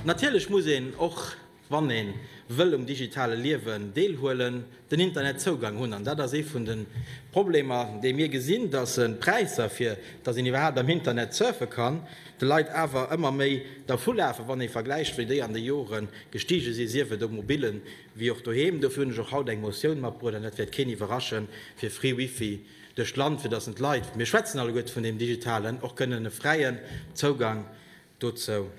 Natierlech muss een, och wann ee wëll um digitale Liewen deelhuelen, den Internetzougang hunn. An dat ass ee vun de Problemer, dee mir gesinn, datt d'Präisser, fir datt een iwwerhaapt am Internet surfe kann, de Leit awer ëmmer méi dervulafen, wann ee vergläicht, wéi déi an de Jore gestige sinn, sief et um mobillen Wéi och doheem, dofir hunn ech och haut eng Motioun matbruecht, an dat wäert keen iwwerraschen, fir free Wifi duerch d'Land, fir datt en d'Leit, mir schwätzen alleguerte vun deem Digitalen, och kënnen e fräien Zougang dozou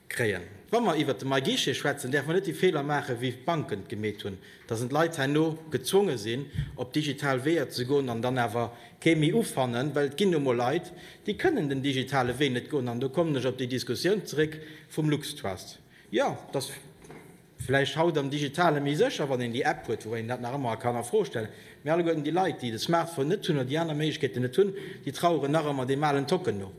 kréien. Wa mer iwwert de MyGuichet schwätzen, däerfe mer net déi Feeler maachen, wéi d'Banken et gemeet hunn, datt en d'Leit herno gezwonge sinn, op digital Weeër ze goen an dann awer kee méi ufannen, well et ginn nu emol Leit, déi kënnen den digitale Wee net goen. An do kommen ech op déi Diskussioun zeréck vum LuxTrust. Jo, et ass. Vläicht haut am Digitale méi sécher, wann een déi App huet, woubäi een dat nach ëmmer kann a Fro stellen. Mee alleguerten déi Leit, déi de Smartphone net hunn oder déi aner Méiglechkeeten net hunn, déi traueren nach ëmmer deem alen Tocken no.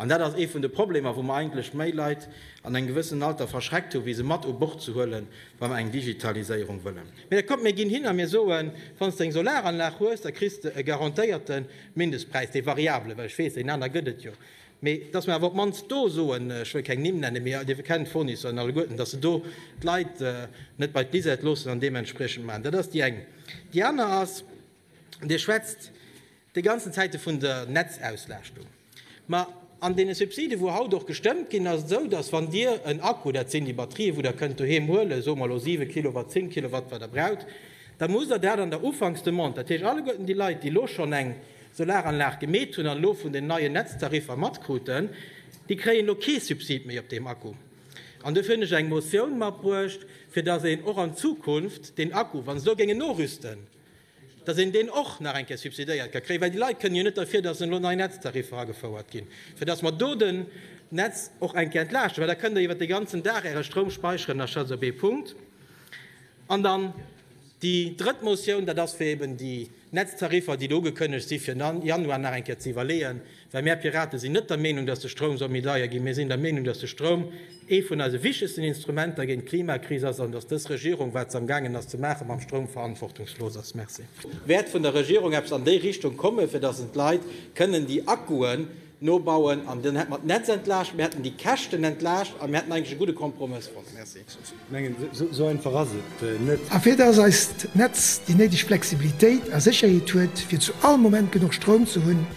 An dat ass ee vun de Problemer, wou mer eigentlech méi Leit an engem gewëssenen Alter verschreckt hu wéi se mat u Bord ze huele wa mer eng Digitaliséierung wëllen. Mee da kommt, mir ginn hin a mir soen, wann s de eng Solaranlag hues, da kriss de e garantéierten Mindestpräis, dee variabele, well ech weess, deen aner gëtt et jo, Mee dass mer awer op d'mannst do soen, ech wëll keng Nimm nennen, mee Dir kennt d'Fournisseur en alleguerten, dass se do d'Leit net bei d'Bisette loossen an deementspriechend maachen. Dat ass déi eng. Déi aner ass, Dir schwätzt déi ganzen Zäite vun der Netzauslastung. Ma an deene Subsiden, wou haut och gestëmmt ginn, ass et esou, dass wann Dir en Akku, dat sinn déi Batterië wou Der kënnt doheem huelen, soe mer elo siwe Kilowatt, zéng Kilowatt, wat Der braucht, da musst Der dat an der Ufanksdemande, dat heescht alleguerten déi Leit, déi elo schonn eng Solaranlag gemeet hunn an elo vun den neien Netztariffer matkruten, déi kréien elo kee Subsid méi op deem Akku. An dofir hunn ech eng Motioun matbruecht, fir datt een och an Zukunft deen Akku, wa se elo géingen norüsten, datt een deen och nach eng Kéier subsidéiert ka kréien, well déi Leit kënnen jo net derfir, datt elo nei Netztariffer agefouert ginn, fir datt mer do den Netz och eng Kéier entlaaschten, well da kënnt Der iwwert de ganzen Dag Äre Stroum speicheren. Dat ass also ee Punkt. An dann déi drëtt Motioun, dat ass, fir eben déi Netztariffer, déi do ugekënnegt si fir Januar, nach eng Kéier ze iwwerleeën, well mär Piraten sinn net der Meenung, datt de Stroum soll méi deier ginn. Mir sinn der Meenung, datt de Stroum ee vun eise wichtegsten Instrumenter géint d'Klimakris ass an datt dës Regierung, wat se amgaangen ass ze maachen mam Stroum, verantwortungslos ass. Merci. Wäert vun der Regierung eppes an déi Richtung kommen, fir datt en d'Leit kënnen déi Akkuen, Nobauen an dann hätte mer d'Netz entlaascht, mir hätten déi Käschten entlaascht a mir hätten eigentlech e gudde Kompromëss fonnt. Merci. Esou einfach ass et net. A fir dass eist Netz déi néideg Flexibilitéit a Sécherheet huet, fir zu all Moment genuch Stroum ze hunn,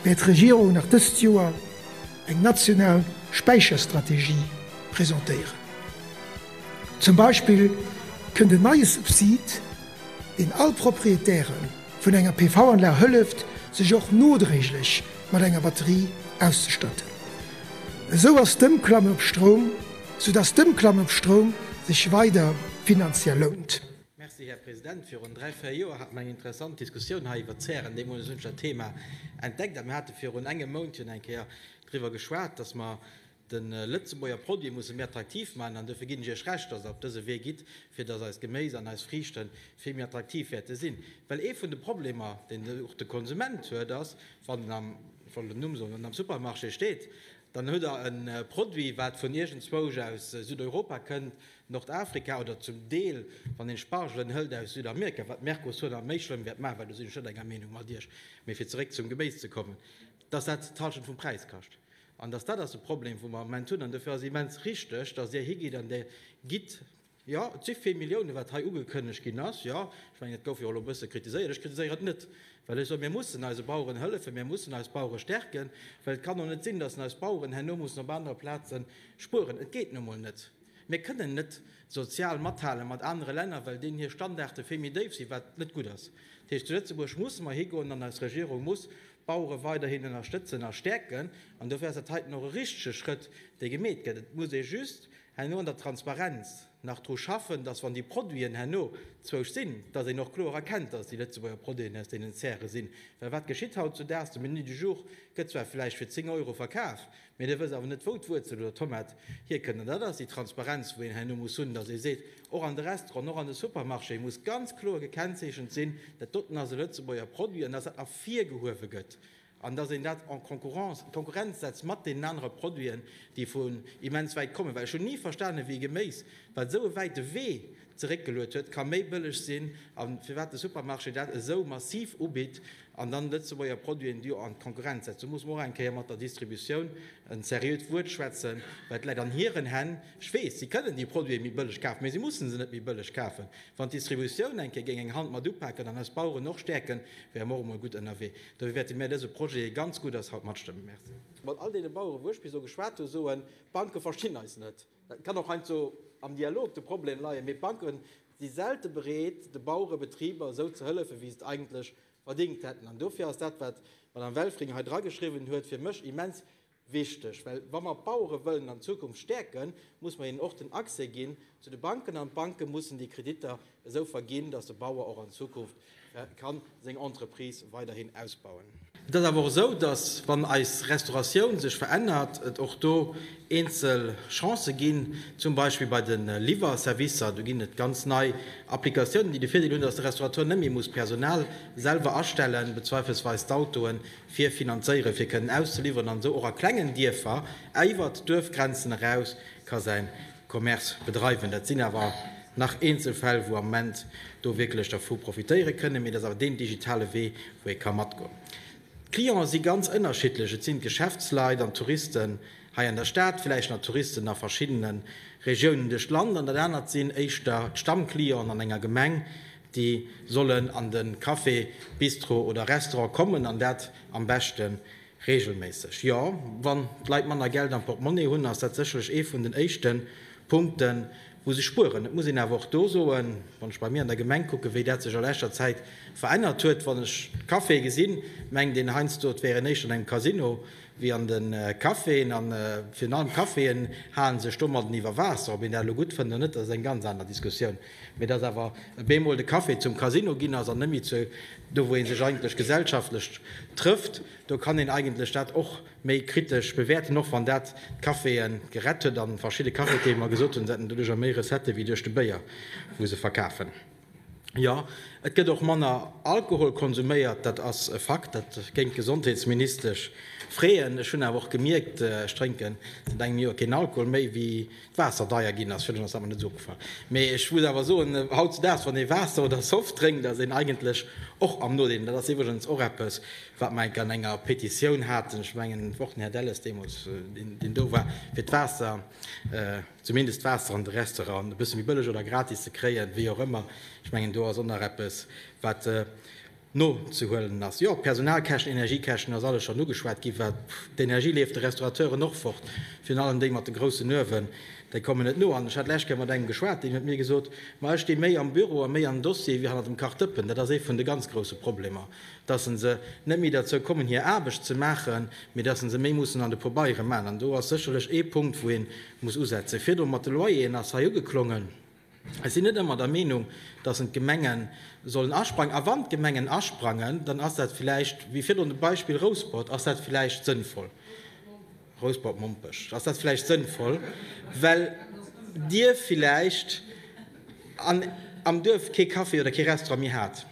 wäert d'Regierung nach dëst Joer eng national Späicherstrategie presentéieren. Zum Beispill kënnt en neie Subsid, deen all Proprietären, vun enger PV-Anlag hëlleft, sech och nodréiglech mat enger Batterie auszestatten. Esou ass d'Ëmklamme op Stroum, sou dass d'Ëmklamme op Stroum sech weider finanziell lount. Merci, Här President. Virun dräi, véier Joer hate mer eng interessant Diskussioun hei iwwert d'Zären. Deemools hunn ech dat Thema entdeckt a mir hate virun engem Mount jo eng Kéier driwwer geschwat, dass mer, De Lëtzebuerger Produit musse mir attraktiv maachen an dofir ginn ech Iech Recht, dass Der op dëse Wee gitt, fir dass eist Geméis an eis Friichte vill méi attraktiv wäerte sinn. Well ee vun de Problemer, deen och de Konsument huet, ass, wann en am, ech wollt en Numm soen, wann en am Supermarché steet, dann huet Der e Produit, wat vun iergendzwousch aus Südeuropa kënnt, Nordafrika oder zum Deel, wann een Spargelen hëlt, aus Südamerika, wat d'Mercosur nach méi schlëmm wäert maachen, well do sinn ech net enger Meenung mat Iech. Mee fir zeréck zum Geméis ze kommen, dass dat d'Hallschent vum Präis kascht. An dass dat ass de Problem, wou mer am Moment hunn. An dofir ass et immens richtig, dass Dir higitt an Dir gitt, jo, et si vill Milliounen, wat hei ugekënnegt ginn ass, jo, ech mengen, et gouf jo och elo e bësse kritiséiert, ech kritiséieren et net, well ech soen, mir mussen eise Baueren hëllefen, mir mussen eis Bauere stärken, well et kann och net sinn, dass eis Baueren herno mussen op anere Plaze spueren. Et geet nu emol net. Mir kënnen net sozial mathale mat anere Länner, well deenen hir Standarde vill méi déif sinn, wat net gutt ass. Dat heescht, zu Lëtzebuerg musse mer higoen an eis Regierung muss D'Bauere weiderhin ënnerstëtzen a stäerken. An dofir ass dat heiten och e richtege Schrëtt, dee gemeet gëtt. Et muss ee just herno an der Transparenz nach dru schaffen, datt, wann déi Produiten herno zwousch sinn, datt een och kloer erkennt, datt et déi Lëtzebuerger Produiten aus deenen Zäre sinn. Well wat geschitt hautzudaags? De Menu du jour gëtt zwar vläicht fir 10 Euro verkaf, Mee da wëss awer net wou d'Wuerzel oder d'Tomat hierkënnt. An dat ass déi Transparenz wou een herno muss hunn, datt ee seet, och an de Restauranten, och an de Supermarchéë muss ganz kloer gekennzeechent sinn, dat doten ass e Lëtzebuerger Produit an datt dat ervirgehuewe gëtt an datt een dat en concurrence, Konkurrenz setzt mat deenen anere Produiten, déi vun immens wäit kommen. Well ech hunn ni verstanen, wéi Geméis, wat esou e wäite Wee zeréckgeluet huet, ka méi bëlleg sinn a firwat de Supermarché dat esou massiv ubitt an dann Lëtzebuerger Produiten do an d'Konkurrenz setzt. Do muss mer och eng Kéier mat der Distributioun en seriöt Wuert schwätzen, well et läit an hiren Hänn. Ech weess, si kënnen déi Produite méi bëlleg kafen, mä si mussen se net méi bëlleg kafen. Wann d'Distributioun eng Kéier géing eng Hand mat upaken an eis Baueren och stäerken, wäre mer och emol gutt ënnerwee. Dofir wäerte mir dëse Projet, dee ganz gutt ass, haut matstëmmen. Merci. Mat all deene Baueren, wou ech bis elo geschwat hu, soen, D'Banke verstinn eis net. Et kann och heiansdo am Dialog de Problem leien, mee d'Banke si selte bereet, de Bauere Betriber esou ze hëllefen, wéi se et eigentlech verdingt hätten. An dofir ass dat, wat d'Madame Welfring hei drageschriwwen huet, fir mech immens wichteg. Well wa mer d'Bauere wëllen an Zukunft stäerken, muss mer hinnen och den Accès ginn zu de Banken an d'Banke mussen déi Kreditter esou verginn, dass de Bauer och an Zukunft kann seng Entreprise weiderhin ausbauen. Et ass awer och esou, dass, wann eis Restauratioun sech verännert, et och do eenzel Chancen ginn, zum Beispill bei de Liwwerservicer. Do ginn et ganz nei Applikatiounen, déi de Virdeel hunn, dass de Restaurateur net méi muss Personal selwer astellen, be zweifelsweis d'Autoen fir finanzéieren, fir kënnen auszeliwweren, an esou och a klengen Dierfer iwwert d'Duerfgrenzen eraus ka säin Commerce bedreiwen. Dat sinn awer nach eenzel Fäll, wou am Moment do wierklech dervu profitéiere kënnen, mee dat ass awer deen digitale Wee, wou ee ka matgoen. D'Clienten si ganz ënnerschiddlech, et sinn d'Geschäftsleit an d'Touristen hei an der Stad, villäicht nach Touristen a verschiddene Regiounen duerch d'Land, an dat anert sinn éischter d'Stammclienten an enger Gemeng, déi sollen an de Café, Bistro oder Restaurant kommen an dat am beschte Reegelméisseg, jo. Wann d'Leit manner Geld am Portemonnaie hunn, ass dat sécherlech ee vun den éischte Punkten, wou se spueren. Et muss een awer och do soen, wann ech bei mir an der Gemeng kucken, wéi dat sech a leschter Zäit verännert huet, wann ech d'Caféë gesinn, mengt een heiansdo, et wären éischter an engem Casino wéi an de Caféen. A virun allem d'Caféen hale sech domadden iwwer Waasser. Ob een dat elo gutt fënnt oder net, dat ass eng ganz aner Diskussioun. Mee dass awer e bemol de Café zum Casino ginn ass an net méi zu do wou ee sech eigentlech gesellschaftlech trëfft, do kann een eigentlech dat och méi kritesch bewäerten, och wann dat d'Caféë gerett huet a verschidde Cafetiere mer gesot hunn, se hätten doduercher méi Recettë wéi duerch de Béier wou se verkafen. Jo, et gëtt och manner Alkohol konsuméiert, dat ass e Fakt, dat géing d'Gesondheetsministesch freeën. Ech hunn awer och gemierkt, ech drénken säit engem Joer keen Alkohol méi, wéi Waasser deier ginn ass, fir ass awer net esou opgefall. Mee ech muss awer soen, hautzedaags, wann ee Waasser oder Soft drénkt, ass een eigentlech och am Nodeel. An dat ass iwwregens och eppes, wat mer enk an enger Petitioun haten, ech mengen, och den Här Delles deemools, deen do war, fir d'Waasser, zumindest d'Waasser an de Restauranten e bësse méi bëlleg oder gratis ze kréien, wéi och ëmmer. Ech mengen, do ass och nach eppes, wat. nozehuelen ass. Jo, Personalkäschten, Energiekäschten, ass alles schonn ugeschwat ginn. Wat d'Energie leeft de Restaurateuren och fort, virun allem déi mat de groussen Uewen, déi kommen net no. An ech hat d'lescht Kéier mat engem geschwat, deen huet mir gesot, ma ech sti méi am Büro a méi am Dossier wéi hannert dem Kachdëppen. Dat ass ee vun de ganz grousse Problemer, dass se net méi derzou kommen hir Aarbecht ze maachen, mee dass se méi mussen an de Pobeiere man. An do ass sécherlech ee Punkt wou ee muss usetzen. Virdru mat de Loyeren ass hei ugeklongen. Ech sinn net ëmmer der Meenung, dass en d'Gemenge sollen asprangen. A wann d'Gemengen asprangen, dann ass dat villäicht, wéi virdrun de Beispill Rouspert, ass dat villäicht sënnvoll, Rouspert-Mompech, ass dat villäicht sënnvoll, well Dir villäicht am Duerf kee Café oder kee Restaurant méi hat.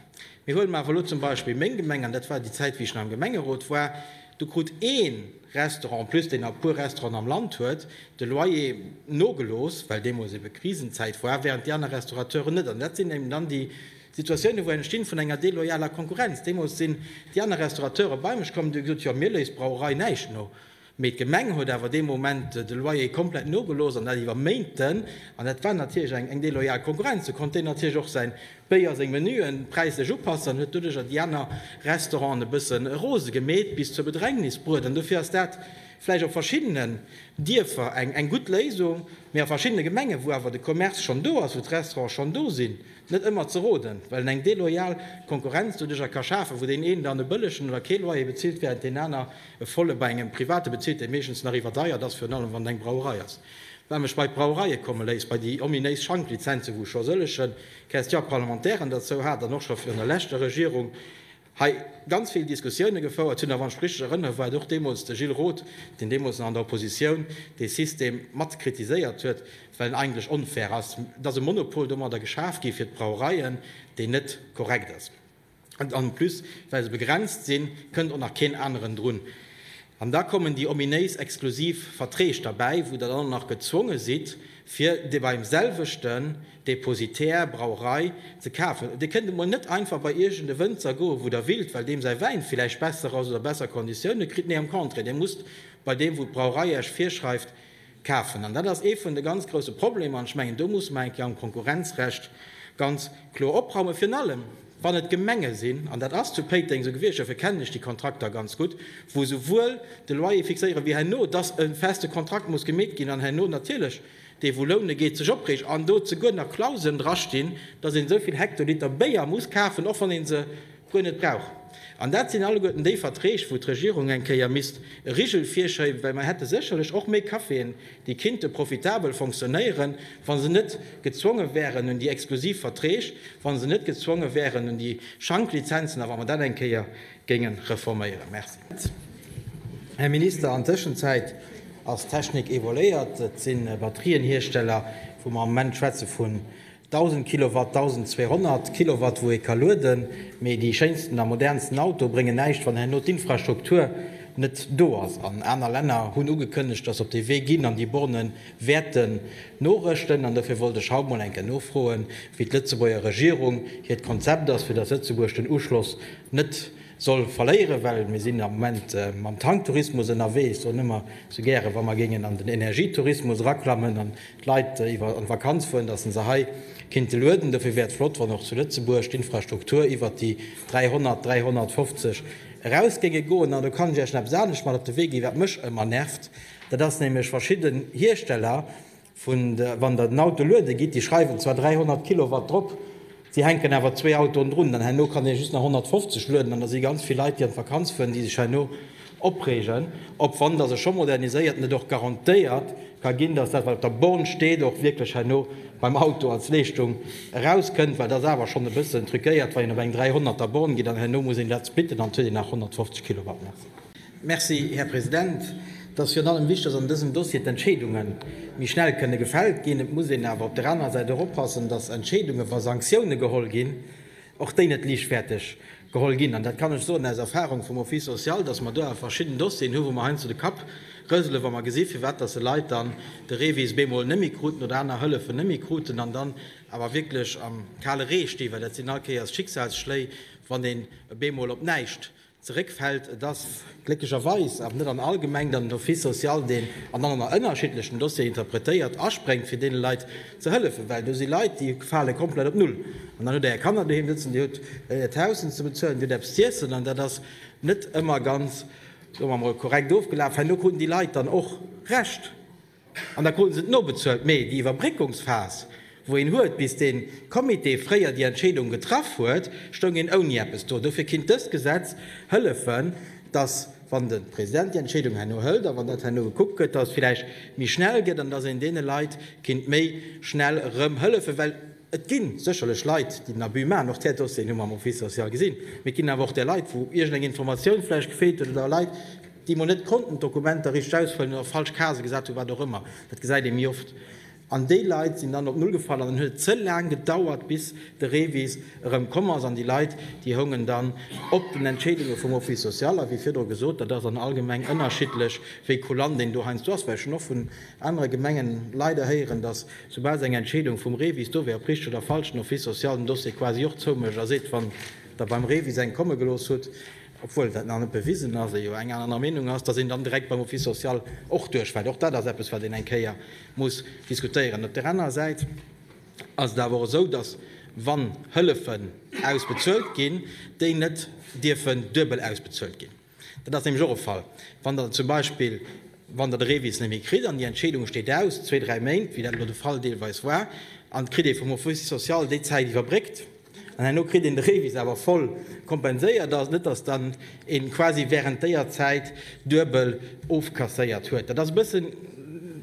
Mee huele mer awer elo zum Beispill meng Gemeng, an dat war déi Zäit, wéi ech nach am Gemengerot war, do krut ee. Restaurant, en plus deen a puer Restauranten am Land huet de Loyer nogelooss, well deemools ebe Krisenzäit war, während déi aner Restaurateuren net. An dat sinn eben dann déi Situatiounen, wou entstinn vun enger deloyaler Konkurrenz. Deemools sinn déi aner Restaurateuren bei mech komm an hu gesot, jo, mir léisst d'Brauerei näischt no, mee d'Gemeng huet awer dee Moment de Loyer komplett nogelooss an dat iwwer Méinten an dat war natierlech eng deloyal Konkurrenz. Do konnt deen natierlech och säin Béier seng Menuen präislech upasse an huet doduercher déi aner Restauranten e bësse rose gemeet, bis zur Bedrängnis bruet. An dofir ass dat vläicht op verschiddenen Dierfer eng gutt Léisung, mee a verschiddene Gemengen, wou awer de Commerce schonn do ass, wou d'Restaurante schonn do sinn, net ëmmer ze roden, well en eng deloyal Konkurrenz doduercher ka schafen, wou deen een dann e bëllegen oder kee Loyer bezilt, während deen aner e volle bei engem Private bezilt, dee meeschtens nach iwwerdeiert ass, virun allem wann et eng Brauerei ass. Wat mech bei d'Brauereie komme léisst, bei déi ominéis Schanklizenzen, wou scho sëllegen. Question parlementaire en derzou hat an och scho virun der leschter Regierung hei ganz vill Diskussioune gefouert hunn. A wann ech richtig erënnere war et och deemools de Gilles Roth, deen deemools nach an der Oppositioun dee System mat kritiséiert huet, well en eigentlech onfair ass. Et ass e Monopol domadder geschaf gi fir d'Brauereien, deen net korrekt ass. En plus, well se begrenzt sinn, kënnt och nach keen aneren drun. An da kommen déi ominéis exklusiv Verträg derbäi, wou Der dann och nach gezwonge sidd, fir dee beim selwechten Depositär, Brauerei, ze kafen. Dir kënnt emol net einfach bei iergend e Wënzer goen, wou Der willt, well deem säi Wäin villäicht besser ass oder besser Konditioune kritt. Nee, am Contraire, Dir musst bei deem, wou d'Brauerei Iech virschreift, Kafen. An dat ass ee vun de ganz grouse Problemer. An ech mengen, do musse mer eng Kéier am Konkurrenzrecht ganz kloer opraumen, virun allem wann et Gemenge sinn, an dat ass zu Péiteng esou gewiescht, dofir kennen ech déi Kontrakter ganz gutt, wou esouwuel de Loyer fixéieren, wéi herno, dass e feste Kontrakt muss gemeet ginn an herno natierlech dee wou loune geet, sech opreegt an do zeguer nach Klauseln drastinn, dass een esou vill Hektoliter Béier muss kafen, och wann ee se guer net brauch. An dat sinn alleguerten déi Verträg, wou d'Regierung eng Kéier misst e Rigel virschéiben, well mer hätte sécherlech och méi Caféen, déi kinnte profitabel fonctionnéieren, wa se net gezwonge wären un déi exklusiv Verträg, wa se net gezwonge wären un déi Schanklizenzen a wa mer dat eng Kéier géinge reforméieren. Merci, Här Minister. An d'Tëschenzäit ass d'Technik évoluéiert. Et si Batterienhiersteller, wou mer am Moment schwätze vun 1000 Kilowatt, 1200 Kilowatt wou ee ka lueden, mee déi schéinsten a modernsten Auto bréngen näischt wann herno d'Infrastruktur net do ass. An aner Länner hunn ugekënnegt, datt se op dee Wee ginn an déi Borne wäerte norëschten. An dofir wollt ech haut mol eng Kéier nofroen, wéi d'Lëtzebuerger Regierung hiert Konzept ass, fir datt Lëtzebuerg den Uschloss net soll verléieren, well mir sinn am Moment mam Tanktourismus ënnerwee. Ech soen ëmmer sou gäre wa mer géingen an den Energietourismus eraklammen, d'Leit iwwer an d'Vakanz fueren, dass se se hei kinnte lueden. Dofir wär et flott, wann och zu Lëtzebuerg d'Infrastruktur iwwert déi 300, 350 eraus géinge goen. An do kann ech Iech nach eppes anescht mat op de Wee ginn, wat mech ëmmer nervt, dat ass nämlech verschidden Hiersteller, wann Der den Auto luede gitt, déi schreiwen zwar 300 Kilowatt drop, Si hänken awer zwee Autoen drun, dann herno kann ee just nach 150 lueden an da si ganz vill Leit, déi an d'Vakanz fueren, déi sech herno opreegen, ob wann datt e scho moderniséiert an et och garantéiert ka ginn, datt dat wat op der Born steet och wierklech herno beim Auto als Leeschtung erauskënnt, well et ass awer schonn e bëssen truquéiert, wann een op eng 300 er Born geet an herno muss een dat splitten an et huet een nach 150 Kilowatt. Merci. Merci, Här President. Et ass virun allem wichtig, dass an dësem Dossier d'Entscheedunge méi schnell kënne gefält ginn. Et muss een awer op der anerer Säit och oppassen, dass Entscheedungen, wa Sanktioune geholl ginn, och déi net liichtfäerteg geholl ginn. An dat kann ech soen aus Erfahrung vum Office social, dass mer do awer verschidden Dossieren hunn, wou mer heiansdo de Kapp rëselen, wa mer gesinn, firwat dass e Leit dann de REVIS bemol net méi kruten oder aner Hëllefen net méi kruten an dann awer wierklech am kale Ree stinn, well dat sinn all Kéiers Schicksalsschléi, wann een bemol op näischt zeréckfält. Et ass glécklecherweis awer net an all Gemeng dann den Office social, deen an all ënner ënnerschiddlechen Dossieren interpretéiert, aspréngt fir deene Leit ze hëllefen, well do si Leit, déi fale komplett op Null. An dann hutt Der Är Kanner doheem sëtzen, Dir hutt Äert Haus ze bezuelen, Dir hutt eppes z'iessen an dat ass net ëmmer ganz, soe mer emol, korrekt ofgelaf. Herno kruten déi Leit dann och Recht. An da kruten se et nobezuelt. Mee déi Iwwerbréckungsphas, wou een huet, bis dee Comité fréier déi Entscheedung getraff huet, stoung een ouni eppes do. Dofir kinnt dëst Gesetz hëllefen, dass, wann de President déi Entscheedung herno hëlt a wann dat herno gekuckt gëtt, dass et vläicht méi schnell gëtt an dass een deene Leit kinnt méi schnell erëm hëllefen. Well et gi sécherlech Leit, déi den Abus maachen. Och där Dossieren hu mer am Office social gesinn. Mee et ginn awer och där Leit, wou iergendeng Informatioun vläicht gefeelt huet oder Leit, déi emol net konnten d'Dokumenter richteg ausfëllen oder falsch Casë gesat hunn, wat och ëmmer, dat gesäit ee méi oft, an déi Leit sinn dann op Null gefall an dann huet et ze laang gedauert, bis de Revis erëm komm ass an déi Leit, déi houngen dann op den Entscheedunge vum Office social. A wéi virdru gesot, dat ass an all Gemeng ënnerschiddlech, wéi kulant een do heiansdo ass, well ech hunn och vun anere Gemengen leider héieren, datt soubal se eng Entscheedung vum Revis do wär, ob richteg oder falsch, den Office social den Dossier quasi och zoumécht a seet, wann Der beim Revis eng komme gelooss hutt, obwuel dat nach net bewisen ass, ee jo eng aner Meenung ass, datt een dann direkt beim Office social och duerchfält. Och dat ass eppes, wat een eng Kéier muss diskutéieren. Op där anerer Säit ass et awer och esou, datt, wann Hëllefen ausbezuelt ginn, déi net dierfen duebel ausbezuelt ginn. Dat ass nämlech och e Fall, wann Der zum Beispill, wann Der de REVIS net méi kritt an déi Entscheedung steet aus, zwee, dräi Méint, wéi dat elo de Fall deelweis war, an et kritt ee vum Office social déi Zäit iwwerbréckt, An herno kritt een de Revis awer voll kompenséiert. Ass net, dass dann een quasi während déier Zäit duebel ofkasséiert huet. Dat ass e bëssen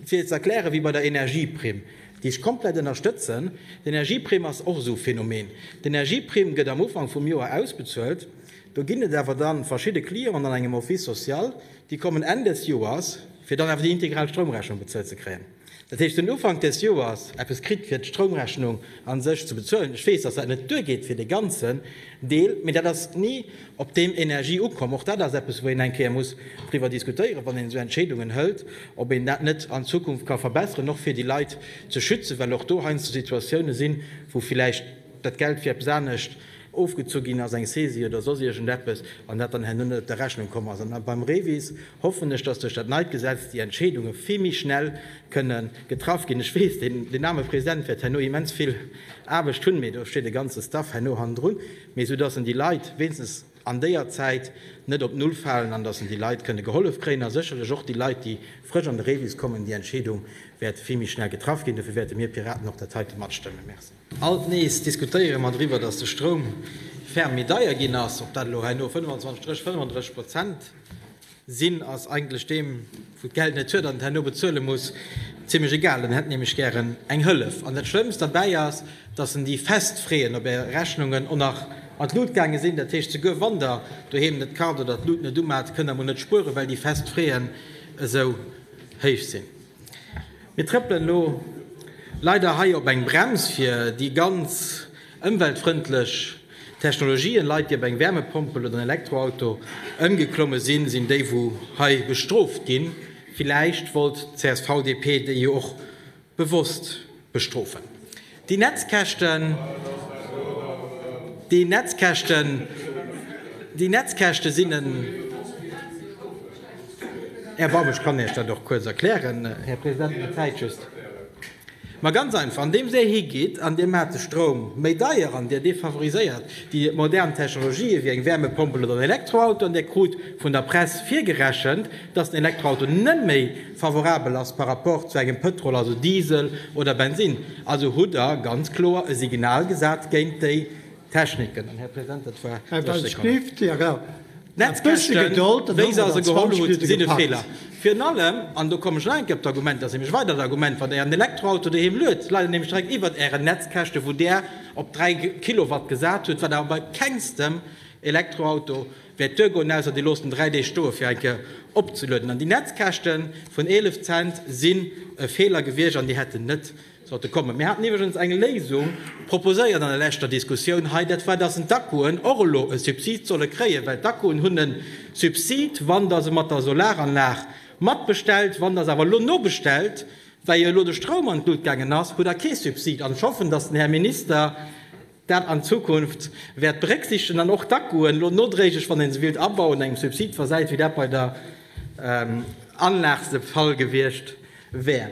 fir ze erklären wéi bei der Energieprimm, déi ech komplett ënnerstëtzen. D'Energieprimm ass och esou e Phänomen. D'Energieprimm gëtt am Ufank vum Joer ausbezuelt. Do ginn et awer dann verschidde Clienten an engem Office social, déi kommen Enn des Joers, fir dann awer déi integral Stroumrechnung bezuelt ze kréien. Dat heescht, den Ufank des Joers eppes kritt, fir d'Stroumrechnung a sech ze bezuelen. Ech weess, dass dat net duergeet fir dee ganzen Deel, mee dat ass ni op deem Energie ukomm. Och dat ass eppes, wou een eng Kéier muss driwwer diskutéieren, wann een esou Entscheedungen hëlt, ob een dat net an Zukunft ka verbesseren, och fir déi Leit ze schützen, well och do heiansdo Situatiounen sinn, wou villäicht dat Geld fir eppes anescht ofgezu ginn ass, eng Saisie oder soss iergendeppes, an dat dann herno net op der Rechnung komm ass. An beim REVIS hoffen ech, dass duerch dat neit Gesetz déi Entscheedunge vill méi schnell kënne getraff ginn. Ech weess, deen aarme President wäert herno immens vill Aarbecht hunn, mee do steet e ganze Staff herno hannendrun, mee esou dass en déi Leit wéinstens an déier Zäit net op Null falen an dass en déi Leit kënne gehollef kréien a sécherlech och déi Leit, déi frësch an de Rebis kommen, déi Entscheedung wäert vill méi schnell getraff ginn. Dofir wäerte mir Piraten och dat heite matstëmmen. Merci. Alt nees diskutéiere mer driwwer, datt de Stroum ferm méi deier ginn ass. Ob dat elo hei no 25 Stréch 35 Prozent sinn, ass eigentlech deem, wou d'Geld net huet an et herno bezuele muss, zimlech egal. En hätt nämlech gären eng Hëllef. An dat Schlëmmst derbäi ass, datt en déi fest Freeën op Är Rechnungen och nach an d'Lut gaange sinn. Dat heescht, souguer wann Der doheem net kart oder d'Lut net umat, kënnt Der mol net spueren, well déi fest Freeën esou héich sinn. Mir trëppelen elo leider hei op eng Brems fir déi ganz ëmweltfrëndlech Technologien. Leit déi op eng Wärmepompel oder en Elektroauto ëmgeklomme sinn, sinn déi wou hei bestrooft ginn. Villäicht wollt d'CSV-DP déi jo och bewosst Bestrofen. Déi Netzkäschten, déi Netzkäschten, déi Netzkäschte sinn en Erbarmen. Ech kann Iech dat och kuerz erklären, Här President, mä d'Zäit just. Mä ganz einfach, andeems Dir higeet an Dir maacht de Stroum méi deier an Dir defavoriséiert déi modern Technologië wéi eng Wärmepompel oder en Elektroauto an Dir krut vun der Press virgerechent, dass den Elektroauto net méi, Favorabel ass par rapport zu engem Pëtrol, also Diesel oder Bensinn. Also hutt Der ganz kloer e Signal gesat géint déi Techniken. Här President, dat war 30 Sekonnen. D'Netzkäschten, wéi se se geholl hutt, sinn e Feeler. Virun allem, an do kommen ech nach eng Kéier op d'Argument, dat ass nämlech e weidert Argument, wann Der Ären Elektroauto doheem luet, leit en nämlech direkt iwwert Ären Netzkäschte wou Der op 3 Kilowatt gesat hutt, wat awer bei kengstem Elektroauto Wäert d'Duer goen, ausser dir loosst en 3 Deeg stoe fir eng Kéier opzelueden. An déi Netzkäschte vun 11 Cent sinn e Feeler gewiescht an déi hätten net sollte kommen. Mir haten iwwregens eng Léisung proposéiert an der leschter Diskussioun hei, dat war, datt d'Akkuen och elo e Subsid solle kréien, well d'Akkuen hunn e Subsid, wann Der se mat der Solaranlag matbestellt. Wann Der se awer elo nobestellt, well jo elo de Stroum an d'Lut gaangen ass, hutt Der kee Subsid. An ech hoffen, datt den Här Minister, dat an Zukunft wäert berécksiichtegen an och d'Akkuen elo nodréiglech, wann ee se willt abauen, engem Subsid versäit, wéi dat bei der Anlag de Fall gewiescht wär.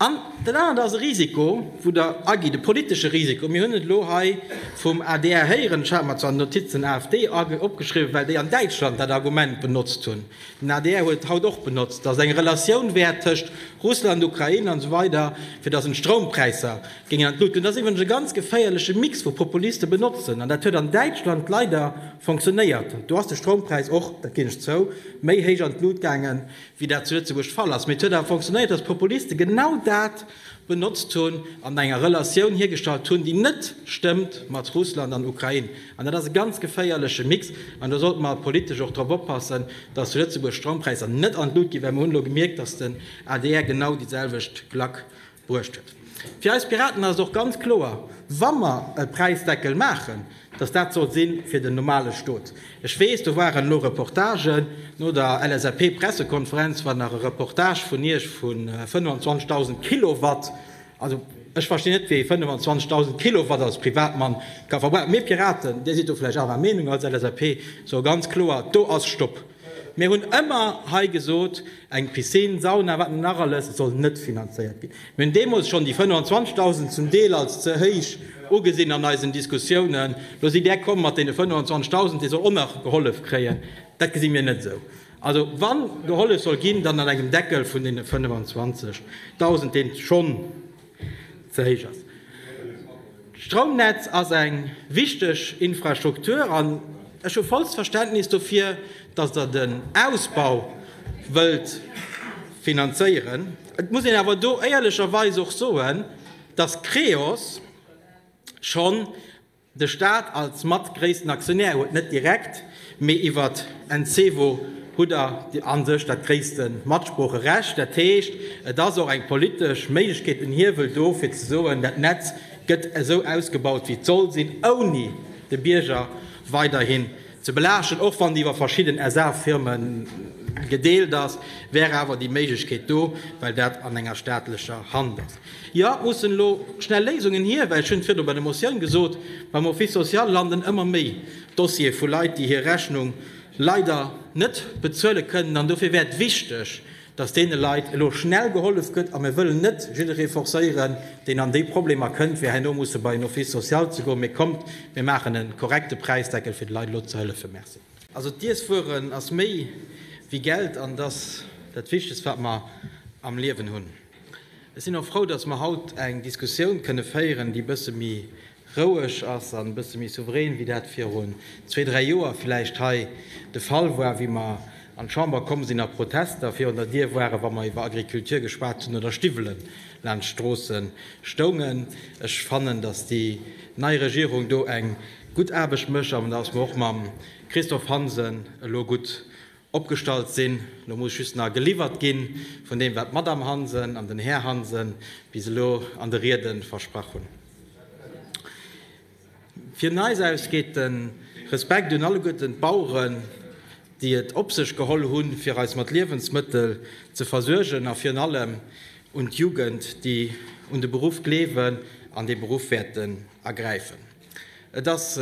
An dat anert ass e Risiko, wou Der agitt, e politesche Risiko. Mir hunn et elo hei vum adr héieren, ech hat mer zwar d'Notiz den AfD opgeschriwwen, well déi an Däitschland dat Argument benotzt hunn, den adr huet et haut och benotzt, datt et eng Relatioun wär tëscht Russland, Ukrain an esou weider, fir datt een d'Stroumpräisser Géing an d'Luut. An dat ass iwwregens e ganz geféierleche Mix wou Populiste benotzen. An dat huet an Däitschland leider fonctionnéiert. Do ass de Stroumpräis och, dat ginn ech zou, méi héich an d'Luut gaangen, wéi dat zu Lëtzebuerg de Fall ass. Mee et huet awer fonctionnéiert, datt d'Populiste genau dat benotzt hunn an enger Relatioun hiergestallt hunn, déi net stëmmt mat Russland an Ukrain. An dat ass e ganz geféierleche Mix. An do sollte mer politesch och drop oppassen, datt zu Lëtzebuerg d'Stroumpräisser net an d'Luut ginn, well mer hunn elo gemierkt, datt den adr genau déi selwecht Klack Bruecht huet. Fir eis Piraten ass et och ganz kloer, wa mer e Präisdeckel maachen, dass dat soll si fir den normale Stot. Ech weess, do waren elo Reportagen no der LSAP-Pressekonferenz, war nach e Reportage vun Iech vu 25.000 Kilowatt. Also, ech verstinn net, wéi ee 25.000 Kilowatt als Privatmann ka verbrauchen. Mir Piraten, Dir sidd do vläicht anerer Meenung als LSAP, soe ganz kloer, do ass Stopp! Mir hunn ëmmer hei gesot, eng Piscine, Sauna, wat net nach alles, soll net finanzéiert ginn. Mir hunn deemools schonn déi 25.000 zum Deel als ze héich ugesinn an eisen Diskussiounen. Lo sidd Där komm mat deene 25.000, dee soll och nach gehollef kréien. Dat gesi mir net esou. Also wa gehollef soll ginn, dann an engem Deckel vun deene 25.000, dee schonn, ze héich ass. D'Stroumnetz ass eng wichteg Infrastruktur an ech hu vollst Verständnis dofir, datt Der den Ausbau wëllt finanzéieren. Et muss een awer do éierlecherweis och soen, datt Creos schonn De Staat als mat gréissten Aktionär huet net direkt, mee iwwert Encevo hutt der a sech dat gréisste Matsproocherecht. Dat heescht, et ass och eng politesch Méiglechkeet, en Hiewel do, fir ze soen, dat Netz gëtt esou ausgebaut, wéi et soll sinn, ouni de Bierger weiderhin ze belaaschten. Och wann déi iwwer verschidden SA-Firme gedeelt ass, wär awer déi Méiglechkeet do, well dat an enger staatlecher Hand ass. Jo, et mussen elo schnell Léisungen hier, well, ech hunn et virdu bei der Motioun gesot, beim Office social landen ëmmer méi Dossiere vu Leit, déi hir Rechnung leider net bezuele kënnen. An dofir wär et wichteg, dass deene Leit elo schnell gehollef gëtt. A mir wëllen net jidderee forcéieren, deen an déi Problemer kënnt, fir herno musse bei en Office social ze goen. Mee kommt, mir maachen e korrekte Präisdeckel, fir de Leit elo ze hëllefen. Merci. Also d'Iesswueren ass méi wéi Geld an et ass dat Wichtegst, wat mer am Liewen hunn. Ech sinn och frou, dass mer haut eng Diskussioun kënne féieren, déi e bësse méi roueg ass an e bësse méi souverän, wéi dat virun zwee, dräi Joer villäicht hei de Fall war, wéi mer an d'Chamber komm sinn a Protester virun der Dier waren, wa mer iwwer Agriculture geschwat hunn oder Stiwwelen laanscht d'Stroosse stoungen. Ech fannen, dass déi nei Regierung do eng gutt Aarbecht mécht an dass mer och mam Christophe Hansen elo gutt opgestallt sinn. Elo muss just nach geliwwert gi vun deem, wat d'Madame Hansen an den Här Hansen bis elo an de Riede versprach hunn. Vun eis aus geet de Respekt un alleguerten d'Baueren, déi et op sech geholl hunn, fir eis mat Liewensmëttel ze versuergen, a virun allem un d'Jugend, déi un de Beruff gleewen an dee Beruff wäerten ergräifen. Et ass.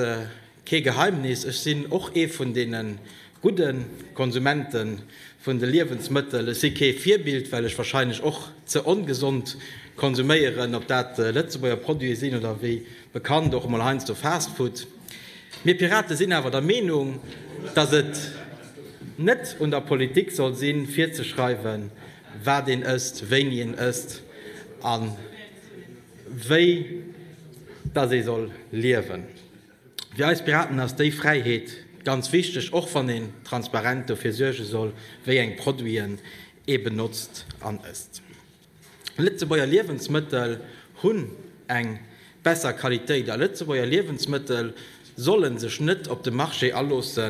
Kee Geheimnis, ech sinn och ee vun deene gudde Konsumente vun de Liewensmëttel. Ech si kee Virbild, well ech wahrscheinlech och ze ongesond konsuméieren, ob dat Lëtzebuerger Produite sinn oder wéi bekannt och emol heiansdo Fastfood. Mir Pirate sinn awer der Meenung, datt et net un der Politik soll sinn, virzeschreiwen, wat een ësst, wéini een ësst a wéi datt ee soll liewen. Fir eis Piraten ass déi Fräiheet ganz wichteg, och wann een transparent dofir suerge soll, wéi eng Produiten ee benotzt an ësst. Lëtzebuerger Liewensmëttel hunn eng besser Qualitéit a Lëtzebuerger Liewensmëttel solle sech net op de Marché aloosse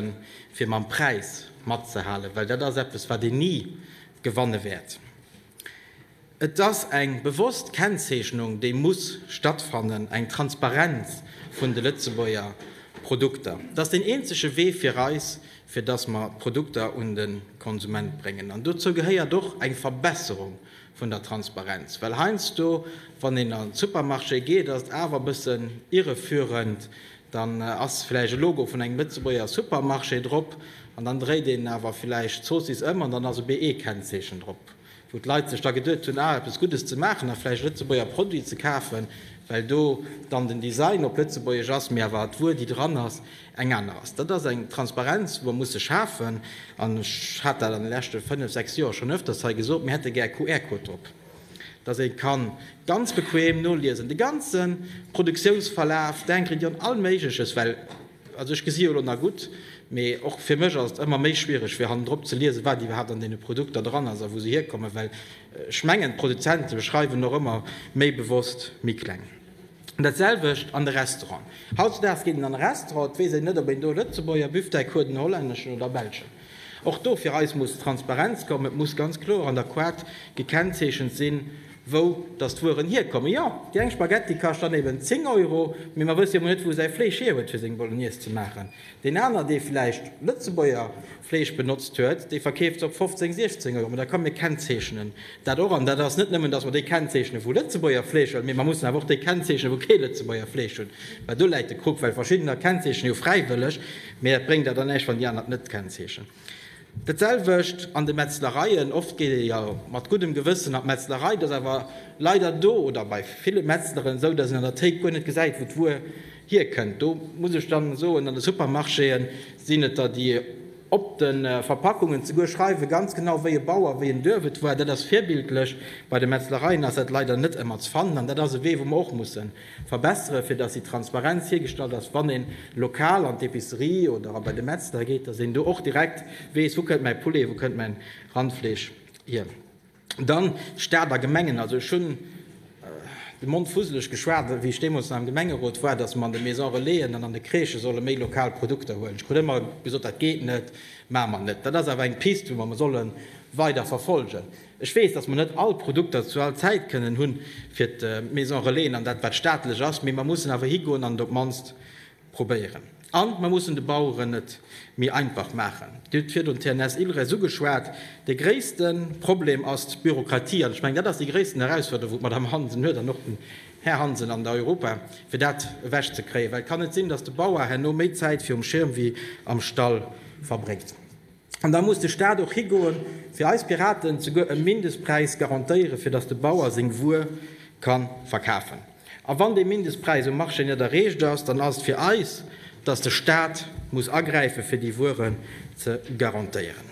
fir mam Präis matzehalen, well dat ass eppes wat een ni gewanne wäert. Et ass eng bewosst Kennzeechnung, déi muss stattfannen, eng Transparenz vun de Lëtzebuerger Produkter. Et ass deen eenzege Wee fir eis, fir dass mer d'Produkter un de Konsument bréngen. An dozou gehéiert och eng Verbesserung vun der Transparenz. Well heiansdo, wann een an de Supermarché geet, ass et awer e bëssen irreführend, Dann ass villäicht e Logo vun engem Lëtzebuerger Supermarché drop an dann dréit een awer villäicht d'Zoossiss ëm an dann ass e BE-Kennzeechen drop, wou d'Leit sech da geduet hunn, ah, eppes Guddes ze maachen a villäicht e Lëtzebuerger Produit ze kafen, well do dann den Design op Lëtzebuergesch ass, mee awer d'Wuer, déi dran ass, eng aner ass. Dat ass eng Transparenz, déi mer musse schafen an ech hat dat an de leschte fënnef, sechs Joer schonn öfters hei gesot, mir hätte gär QR-Code drop. dass ee ka ganz bequem noliesen, de ganze Produktiounsverlaf, denken dir un all Méigleches, well, also ech gesi jo elo nach gutt, mee och fir mech ass et ëmmer méi schwiereg, fir hannendrop ze liesen, wat iwwerhaapt an deene Produkter dran ass a wou se hierkommen, well ech mengen, d'Produzente schreiwen och ëmmer méi bewosst méi kleng. Dat selwecht an de Restauranten. Hautzedaags geet een an e Restaurant, et weess een net, ob een do e Lëtzebuerger Büfftei kruet, en hollänneschen oder e belschen. Och do fir eis muss Transparenz kommen. Et muss ganz kloer an der Koart gekennzeechent sinn, wou datt d'Wueren hierkommen. Jo, déi eng Spaghetti kascht dann eben 10 Euro, mee mer wësse jo emol net, wou säi Fleesch hierhuet, fir seng Bolognese ze maachen. Deen aner, dee vläicht Lëtzebuerger Fleesch benotzt huet, dee verkeeft se op 15, 16 Euro. Mä da kommen, mir kennzeechnen dat och. An dat ass net nëmmen, datt mer déi kennzeechnen, wou Lëtzebuerger Fleesch hunn, mee mer mussen awer och déi kennzeechnen, wou kee Lëtzebuerger Fleesch hunn. Well do läit de Krux, well verschiddener kennzeechnen jo fräiwëlleg, mee dat bréngt der dann näischt, wann déi aner et net kennzeechnen. Dat selwecht an de Metzlereien. Oft geet ee jo mat guddem Gewëssen an d'Metzlerei. Et ass awer leider do oder bei ville Metzleren esou, datt een an der Théik guer net gesäit, wou d'Wuer hierkënnt. Do muss ech da soen, an de Supermarchéë sinn et der, déi op de Verpackungen souguer schreiwen, ganz genau wéi e Bauer, wéi en Duerf et war. Dat ass virbildlech. Bei de Metzlereien ass dat leider net ëmmer ze fannen. An dat ass e Wee, wou mer och mussen Verbessere fir dass déi Transparenz hiergestallt ass, wann een lokal an d'Epicerie oder a bei de Metzler geet, dass een do och direkt weess, wou kënnt mäi Poulet, wou kënnt mäin Randfleesch hier. Dann Staat a Gemengen, also ech hunn de Mond fusseleg geschwat wéi ech deemools nach am Gemengerot war, dass mer an de Maison Relaisen an an de Crèchë solle méi lokal Produkter huelen. Ech krut ëmmer gesot, dat geet net, maache mer net. Dat ass awer eng Piste wou mer solle weider verfolgen. Ech weess, dass mer net all Produkter zu all Zäit kënnen hu fir d'Maison Relaisen an dat wat staatlech ass, mee mer mussen awer higoen an et op d'mannst probéieren. An mer mussen de Baueren et méi einfach maachen. Dir hutt virdrun d'TNS Ilres ugeschwat. De gréisste Problem ass d'Bürokratie an ech mengen, dat ass déi gréissten Herausforderung, wou d'Madame Hansen huet an och den Här Hansen an der Europa, fir dat ewech ze kréien, well et kann net sinn, dass de Bauer herno méi Zäit virum Schirm wéi am Stall verbréngt. An da muss de Staat och higoe fir eis Piraten souguer e Mindestpräis garantéiere fir datt de Bauer seng Wuer ka verkafen. A wann dee Mindestpräis um Marché net erreecht ass, dann ass et fir eis, datt de Staat muss agräife fir déi Wueren ze garantéieren.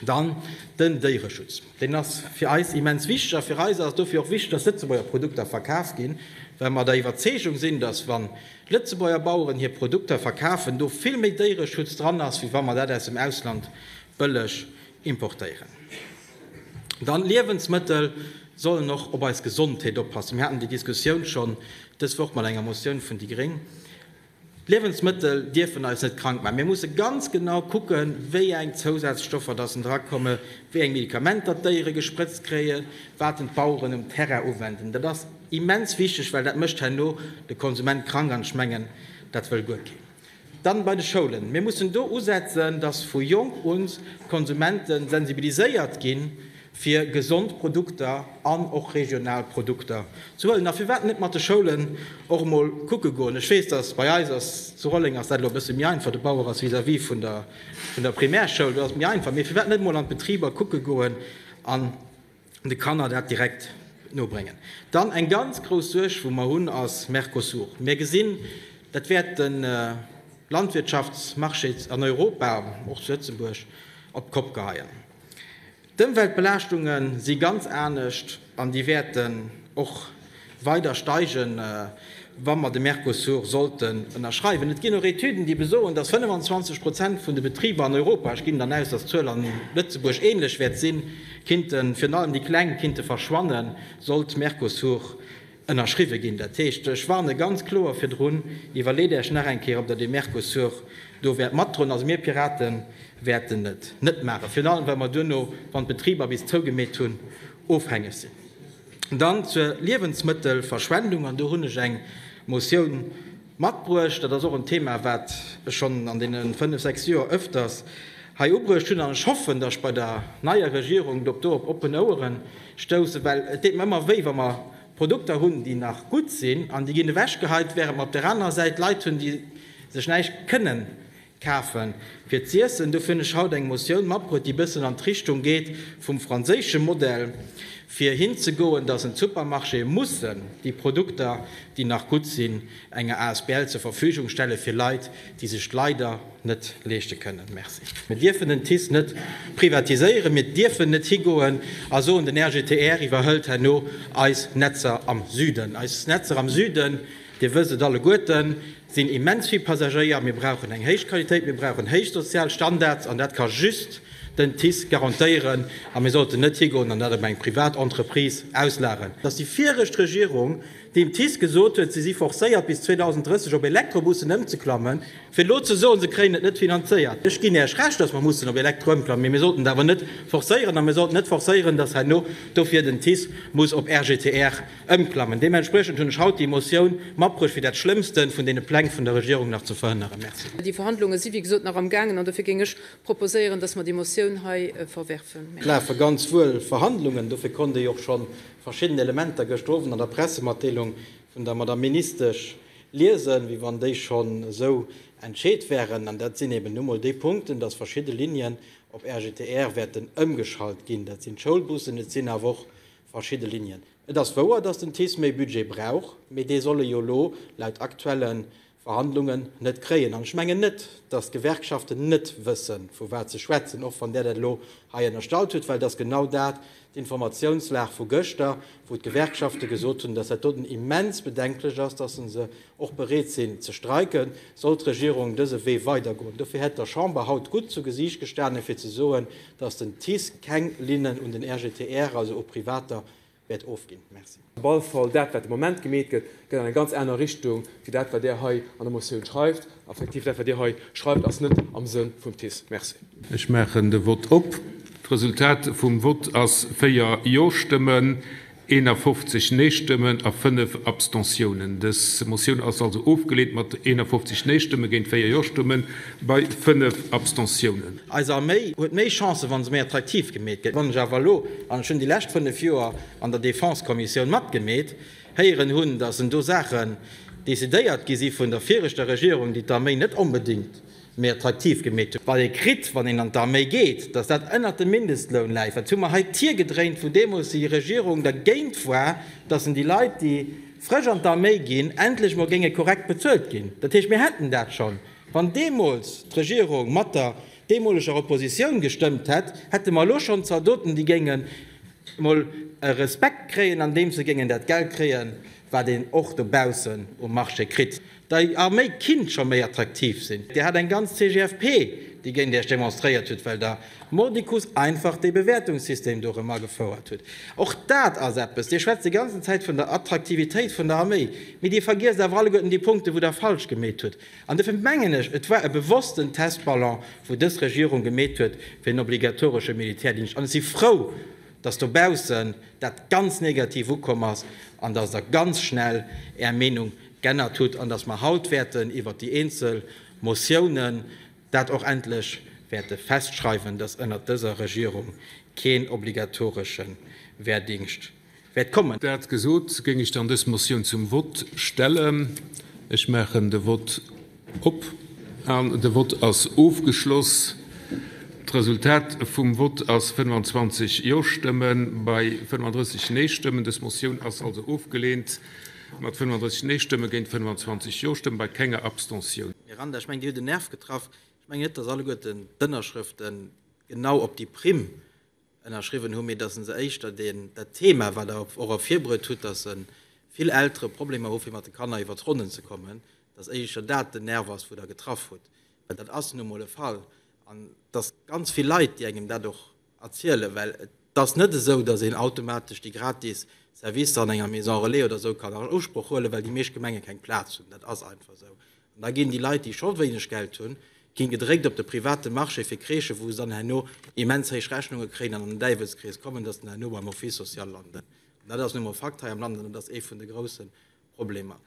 Dann den Déiereschutz. Deen ass fir eis immens wichteg. A fir eis ass et dofir och wichteg, datt Lëtzebuerger Produkter verkaf ginn, well mer der Iwwerzeegung sinn, datt wann Lëtzebuerger Baueren hir Produkter verkafen, do vill méi Déiereschutz dran ass, wéi wa mer dat aus dem Ausland bëlleg importéieren. Dann, Liewensmëttel sollen och op eis Gesondheet oppassen. Mir haten déi Diskussioun schonn dës Woch mat enger Motioun vun déi Gréng. D'Liewensmëttel dierfen eis net krank maachen. Mir musse ganz genau kucken, wéi eng Zousazstoffer datt en dra komme, wéi eng Medikamenter d'Déiere gesprëtzt kréien, wat en d'Baueren um Terrain uwenden. Immens wichteg, well dat mécht herno de Konsument krank, an ech mengen, dat wëll guer keen. Dann bei de Schoulen. Mir mussen do usetzen, dass vu jonk un d'Konsumente sensibiliséiert ginn, fir gesond Produkter an och regional Produkter ze huelen. A firwat net mat de Schoulen och emol kucke goen? Ech weess, dass bei eis ass, zu Rolleng ass dat elo e bësse méi einfach, de Bauer ass vis-à-vis vun der Primärschoul, do ass et méi einfach, mee firwat net emol an d'Betriber kucke goen an de Kanner dat direkt nobréngen. Dann eng ganz grouss Suerg, wou mer hunn, ass Mercosur. Mir gesinn, dat wäert de Landwirtschaftsmarché an Europa, och zu Lëtzebuerg, op d'Kopp geheien. D'Ëmweltbelaaschtunge si ganz anescht an déi wäerten och. weider steigen, wa mer de Mercosur sollten ënnerschreiwen. Et ginn och Etüden, déi besoen, dass 25 Prozent vun de Betriber an Europa, ech ginn dann aus, dass d'Zuel a Lëtzebuerg ähnlech wäert sinn, kinnten, virun allem déi Kleng, kinnte verschwannen, sollt de Mercosur ënnerschriwwe ginn. Dat heescht, ech warne ganz kloer virdrun, Iwwerleet Äech nach eng Kéier, ob Der dee Mercosur do wäert matdroen. Also mir Pirate wäerten et net maachen, virun allem, well mer duerno, wann d'Betriber bis zougemeet hunn, ofhängeg sinn. Dann zur Liewensmëttelverschwendung, an do hunn ech eng Motioun matbruecht. Dat ass och en Thema, wat ech schonn an deene fënnf, sechs Joer öfters hei ubruecht hunn, an ech hoffen, datt ech bei der neier Regierung do op oppen Ouere stoussen, well et deet mer ëmmer wéi, wa mer Produkter hunn, déi nach gutt sinn, an déi ginn ewechgeheit, während mer op där anerer Säit Leit hunn, déi sech näischt kënnen Kafen fir z'iessen. Dofir hunn ech haut eng Motioun matbruet, déi bëssen an d'Richtung geet vum franséische Modell, fir hinzegoen, dass en d'Supermarchéë mussen déi Produkter, déi nach gutt sinn, enger Asbl zur Verfügung stelle fir Leit, déi sech d'leider net leeschte kënnen. Merci. Mir dierfen den TICE net privatiséieren. Mir dierfen net higoen a soen, den RGTR iwwerhëlt herno eis Netzer am Süden. Eis Netzer am Süden, Dir wësst et alleguerten, sinn immens vill Passagéier, mir brauchen eng héich Qualitéit, mir brauchen héich sozial Standards an dat ka just den TICE garantéieren a mir sollten net higoen an dat op eng privat Entreprise auslageren. Dass déi viregt Regierung dem TICE gesot huet, si si forcéiert bis 2030 op Elektrobussen ëmzeklammen, fir elo ze soen, se kréien et net finanzéiert, ech ginn Iech Recht, dass mer mussen op Elektro ëmklammen, mee mir sollten et awer net forcéieren a mir sollten net forcéieren, dass herno dofir den TICE muss op RGTR. Ëmklammen. Deementspriechend hunn ech haut déi Motioun matbruecht, fir dat Schlëmmsten vun deene Pläng vun der Regierung nach ze verhënneren. Merci. Déi Verhandlunge si wéi gesot nach am gaangen an dofir géing ech proposéieren, dass mer déi Motioun hei verwerfen. Et lafe ganz wuel Verhandlungen, dofir konnt Dir jo och scho verschidden Elementer gëschter Owend an der Pressematdeelung vun der Madame Ministesch liesen, wéi wann déi schonn esou entscheet wären. An dat sinn eben nu mol déi Punkten, dass verschidde Linien op RGTR wäerten ëmgeschalt ginn. Dat sinn d'Schoulbussen, et sinn awer och Verschidde Linien. Et ass wouer, datt den TICE méi Budget brauch, mee dee soll e jo elo laut aktuelle Verhandlungen net kréien. An ech mengen net, datt d'Gewerkschaften net wësse vu wat se schwätzen, och wann Der dat elo hei ënnerstallt hutt, well et ass genau dat d'Informatiounslag vu gëschter, wou d'Gewerkschafte gesot hunn, datt dat doten immens bedenklech ass, datt se se och bereet sinn ze streiken, soll d'Regierung dëse Wee weidergoen. Dofir hätt der Chamber haut gutt zu Gesiicht gestanen, fir ze soen, datt den TICE keng Linnen un den RGTR, also u Privater, wäert ofginn. Merci. Op alle Fall, dat, wat de Moment gemeet gëtt, geet an eng ganz aner Richtung wéi dat, wat Der hei an der Motioun schreift. A effektiv, dat, wat Dir hei schreift, ass net am Sënn vum TICE. Merci. Ech maachen de Vott op. D'Resultat vum Vott ass 4 Jo-Stëmmen, 51 Neestëmmen a 5 Abstentiounen. Dës Motioun ass also ofgeleent mat 51 Neestëmme géint 4 Jo-Stëmme bei 5 Abstentiounen. Eis Arméi huet méi Chancen, wa se méi attraktiv gemeet gëtt. Wann ech awer elo, an ech hunn déi lescht 5 Joer an der Defense-Kommissioun matgemeet, héieren hunn, datt do Saachen decidéiert gi si vun der viregter Regierung, déi d'Arméi net onbedéngt méi attraktiv gemeet hunn, wat ee kritt, wann een an d'Arméi geet, datt dat ënnert dem Mindestloun läit, wat hu mer hei d'Tier gedréint, wou deemools déi Regierung dergéint war, datt en déi Leit, déi frësch an d'Arméi ginn, endlech emol géinge korrekt bezuelt ginn. Dat heescht, mir hätten dat schonn, wann deemools d'Regierung mat der deemoleger Oppositioun gestëmmt hätt, hätte mer elo schonn Zaldoten, déi géingen emol e Respekt kréien, andeems se géingen dat Geld kréien, wat een och dobaussen um Marché kritt. der Arméi kinnt scho méi attraktiv sinn. Dir hat eng ganz CGFP, déi géint Iech demonstréiert huet, well der mordicus einfach dee Bewäertungssystem do erëm agefouert hutt. Och dat ass eppes. Dir schwätzt déi ganzen Zäit vun der Attraktivitéit vun der Arméi, mee Dir vergiesst awer alleguerten déi Punkte, wou Der falsch gemeet hutt. An dofir mengen ech, et war e bewossten Testballon, wou dës Regierung gemeet huet, fir en obligatoresche Militärdingscht. An ech si frou, dass dobaussen dat ganz negativ ukomm ass an dass Der ganz schnell Är Meenung g'ännert hutt an dass mer haut wäerten iwwert déi eenzel Motiounen dat och endlech wäerte festschreiwen, dass ënnert dëser Regierung keen obligatoresche Wehrdingscht wäert kommen. Dat gesot, géing ech dann dës Motioun zum Vott stellen. Ech maachen de Vott. Op an de Vott ass ofgeschloss. D'Resultat vum Vott ass 25 Jo-Stëmme bei 35 Nee-Stëmmen. Dës Motioun ass also ofgeleent, mat 35 Nee-Stëmme géint 25 Jo-Stëmme bei kenger Abstention. Miranda, ech mengen Dir hutt en Nerv getraff. Ech mengen net, datt alleguerten d'Ënnerschrëfte genau op déi Primm ënnerschriwwen hunn, mee dass e se éischter deen, dat Thema, wat Der och ervirbruet hutt, dass vill Eltere Problemer hu fir mat de Kanner iwwer d'Ronnen ze kommen, dass éischer dat den Nerv ass, wou Der getraff hutt, well dat ass nu emol e Fall. An et ass ganz vill Leit, déi engem dat och erzielen, well et ass net esou, dass een automatesch déi gratis Servicer an enger Maison relais oder esou kann an Usproch huelen, well déi meescht Gemenge keng Plaz hunn. Dat ass einfach esou. Da ginn déi Leit, déi scho wéineg Geld hunn, ginn gedréckt op de private Marché fir Crèchen, wou se dann herno immens héich Rechnunge kréien an an den Däiwelskrees kommen, dass se dann herno beim Office social landen. An dat ass nu emol Fakt hei am Land an dat ass ee vun de grousse Problemer.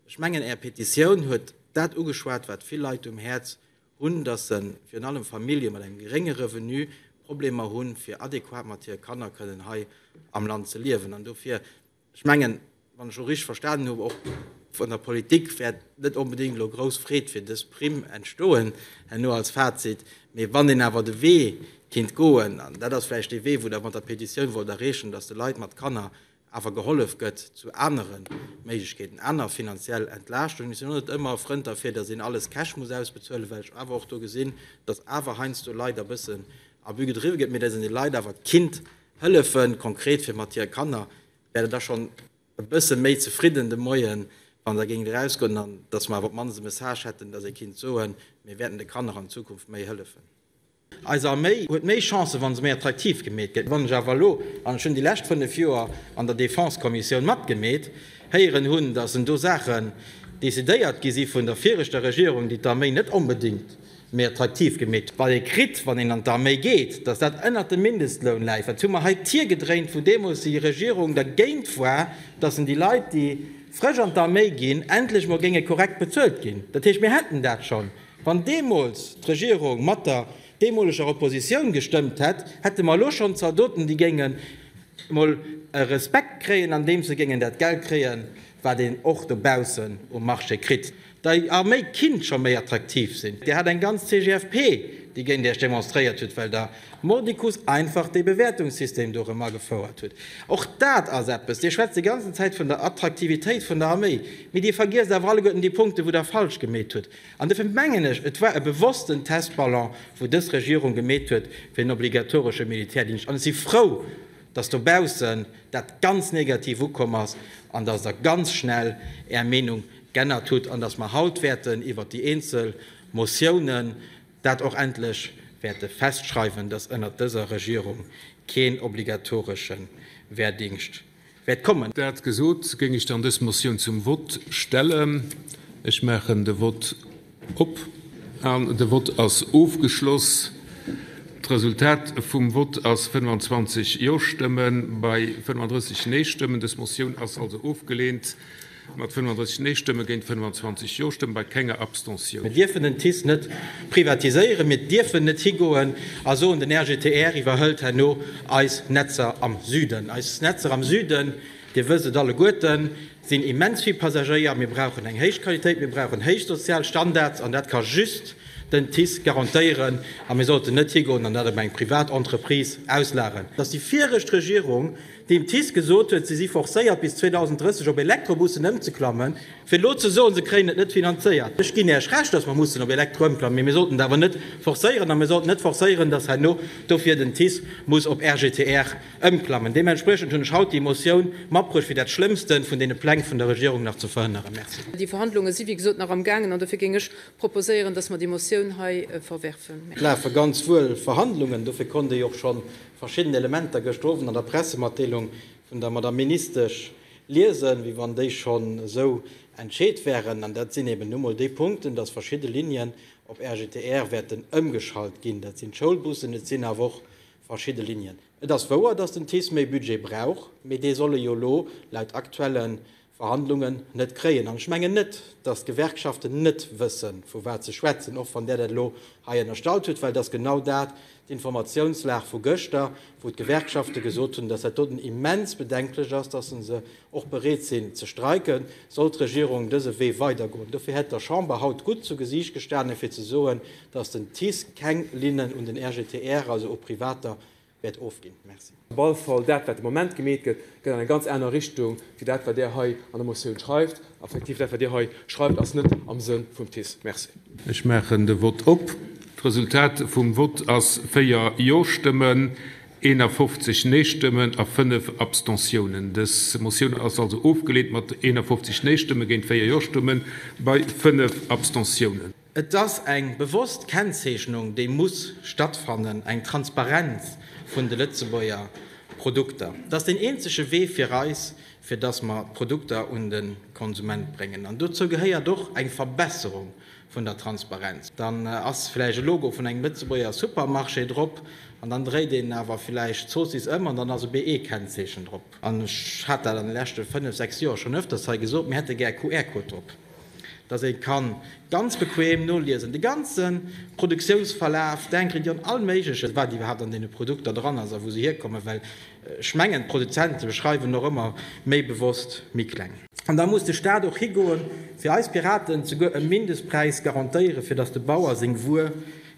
Ech mengen Är Petitioun huet dat ugeschwat, wat vill Leit um Häerz hunn, dass se, virun allem Famillje mat engem gerénge Revenu, Problemer hu fir adequat mat hire Kanner kënnen hei am Land ze liewen. An dofir Ech mengen, wann ech och richteg verstanen hunn, och vun der Politik wäert net onbedéngt elo grouss Freed fir dës Primm entstoen herno als Fazit. Mee wann een awer de Wee kinnt goen, an dat ass vläicht dee Wee, wou Der mat der Petitioun wollt erreechen, datt de Leit mat Kanner awer gehollef gëtt zu anere Méiglechkeeten, aner finanziell Entlaaschtungen. Ech sinn och net ëmmer e Frënd derfir, datt een alles cash muss ausbezuelen, well ech awer och do gesinn, datt awer heiansdo Leit e bëssen Abus gedriwwe gëtt, mee datt een de Leit awer kinnt Hëllefen, konkret fir mat hire Kanner, wär der da schonn e bësse méi zefridden de Moien, wann der géingt erausgoen an dass mer awer op d'mannst e Message hätten, dass ee kinnt soen, mir wäerten de Kanner an Zukunft méi hëllefen. Eis Arméi huet méi Chancen, wa se méi attraktiv gemeet gëtt. Wann ech awer elo, an ech hunn déi lescht fënnef Joer an der Défense-Kommissioun matgemeet, héieren hunn, dass en do Saachen decidéiert gi si vun der viregter Regierung, déi d'Arméi net onbedéngt méi attraktiv gemeet, wat ee kritt, wann een an d'Arméi geet, datt dat ënnert dem Mindestloun läit, wat hu mer hei d'Tier gedréint, wou deemools déi Regierung dergéint war, datt en déi Leit, déi frësch an d'Arméi ginn, endlech emol géinge korrekt bezuelt ginn. Dat heescht, mir hätten dat schonn, wann deemools d'Regierung mat der deemoleger Oppositioun gestëmmt hätt, hätte mer elo schonn Zaldoten, déi géingen emol e Respekt kréien, andeems se géingen dat Geld kréien, wat een och dobaussen um Marché kritt, déi a méi kinnt scho méi attraktiv sinn. Dir hat eng ganz CGFP, déi géint Iech demonstréiert huet, well Der mordicus einfach dee Bewäertungssystem do erëm agefouert hutt. Och dat ass eppes, Dir schwätzt déi ganzen Zäit vun der Attraktivitéit vun der Arméi, mee Dir vergiesst awer alleguerten déi Punkte, wou Der falsch gemeet hutt. An duerfir mengen ech, et war e bewossten Testballon, wou dës Regierung gemeet huet, fir en obligatoresche Militärdingscht. An ech si frou, dass dobaussen dat ganz negativ ukomm ass an dass Der ganz schnell Är Meenung g'ännert hutt an dass mer haut wäerten iwwert déi eenzel Motiounen dat och endlech wäerte festschreiwen, dass ënnert dëser Regierung keen obligatoresche Wehrdingscht wäert kommen. Dat gesot, géing ech dann dës Motioun zum Vott stellen. Ech maachen de Vott. Op an de Vott ass ofgeschloss. D'Resultat vum Vott ass 25 Jo-Stëmme bei 35 Nee-Stëmmen. Dës Motioun ass also ofgeleent mat 35 Nee-Stëmme géint 25 Jo-Stëmme bei kenger Abstention. Mir dierfen den TICE net privatiséieren, mir dierfen net higoen a soen, den RGTR iwwerhëlt herno eis Netzer am Süden. Eis Netzer am Süden, Dir wësst et alleguerten, sinn immens vill Passagéier, mir brauchen eng héich Qualitéit, mir brauchen héich sozial Standards an dat ka just den TICE garantéieren a mir sollten net higoen an dat op eng privat Entreprise auslageren. Dass déi viregt Regierung dem TICE gesot huet, si si forcéiert bis 2030 op Elektrobussen ëmzeklammen, fir elo ze soen, se kréien et net finanzéiert, ech ginn Iech Recht, dass mer mussen op Elektro ëmklammen, mee mir sollten et awer net forcéieren a mir sollten net forcéieren, dass herno dofir den TICE muss op RGTR. Ëmklammen. Deementspriechend hunn ech haut déi Motioun matbruecht, fir dat Schlëmmste vun deene Pläng vun der Regierung nach ze verhënneren. Merci. Déi Verhandlunge si wéi gesot nach am gaangen an dofir géing ech proposéieren, dass mer déi Motioun hei verwerfen. Et lafe ganz wuel Verhandlungen, dofir konnt ee och scho verschidden Elementer gëschter Owend an der Pressematdeelung vun der Madame Ministesch liesen, wéi wann déi schonn esou entscheet wären. An dat sinn eben nu mol déi Punkten, dass verschidde Linien op RGTR wäerten ëmgeschalt ginn. Dat sinn d'Schoulbussen, et sinn awer och Verschidde Linien. Et ass wouer, datt den TICE méi Budget brauch, mee dee soll e jo elo laut aktuelle Verhandlungen net kréien. An ech mengen net, datt d'Gewerkschaften net wësse vu wat se schwätzen, och wann Der dat elo hei ënnerstallt hutt, well et ass genau dat d'Informatiounslag vu gëschter, wou d'Gewerkschafte gesot hunn, datt dat doten immens bedenklech ass, datt se se och bereet sinn ze streiken, soll d'Regierung dëse Wee weidergoen. Dofir hätt der Chamber haut gutt zu Gesiicht gestanen, fir ze soen, datt den TICE keng Linnen un den RGTR, also u Privater, wäert ofginn. Merci. Op alle Fall, dat, wat de Moment gemeet gëtt, geet an eng ganz aner Richtung wéi dat, wat Der hei an der Motioun schreift. Effektiv, dat wat Dir hei schreift ass net am Sënn vum TICE. Merci. Ech maachen de Vott op. D'Resultat vum Vott ass 4 Jo-Stëmmen, 51 Nee-Stëmmen a 5 Abstentiounen. Dës Motioun ass also ofgeleent mat 51 Nee-Stëmme géint 4 Jo-Stëmme bei 5 Abstentiounen. Et ass eng bewosst Kennzeechnung, déi muss stattfannen, eng Transparenz vun de Lëtzebuerger Produkter. Dat ass deen eenzege Wee fir eis, fir datt mer d'Produkter un de Konsument bréngen. An dozou gehéiert och eng Verbesserung vun der Transparenz. Dann ass vläicht e Logo vun engem Lëtzebuerger Supermarché drop an dann dréit een awer vläicht d'Zoossiss ëm an dann ass e BE-Kennzeechen drop. An ech hat dat an de leschte fënnef, sechs Joer schonn öfters hei gesot, mir hätte gär QR-Code drop. dass ee ka ganz bequem noliesen, de ganze Produktiounsverlaf, d'Ingredient, all Méigleches, wat iwwerhaapt an deene Produkter dran ass a wou se hierkommen, well ech mengen, d'Produzente schreiwen och ëmmer méi bewosst méi kleng. An da muss de Stat och higoen, fir eis Piraten, souguer e Mindestpräis garantéieren, fir dass de Bauer seng Wuer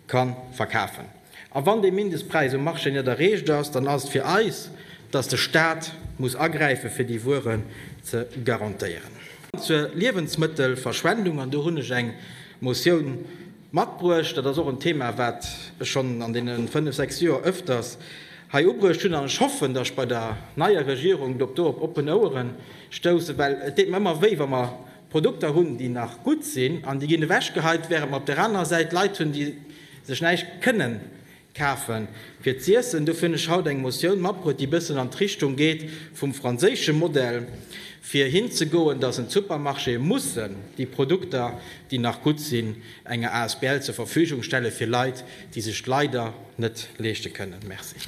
ka verkafen. A wann dee Mindestpräis um Marché net erreecht ass, dann ass et fir eis, dass de Stat muss agräife fir déi Wueren ze garantéieren. Zur Liewensmëttelverschwendung, an do hunn ech eng Motioun matbruecht, dat ass och en Thema, wat ech schonn an deene fënnf, sechs Joer öfters hei ubruecht hunn, an ech hoffen, dass ech bei der neier Regierung dorop oppen Ouere stoussen, well et deet mer ëmmer wéi, wa mer Produkter hunn, déi nach gutt sinn an déi ginn ewechgeheit, während mer op där anerer Säit Leit hunn, déi sech näischt kënnen kafe fir z'iessen. Dofir hunn ech haut eng Motioun matbruet, déi e bëssen an d'Richtung geet vum franséische Modell, fir hinzegoen, dass en d'Supermarchéë mussen déi Produkter, déi nach gutt sinn, enger Asbl zur Verfügung stelle fir Leit, déi sech d'leider net leeschte kënnen. Merci.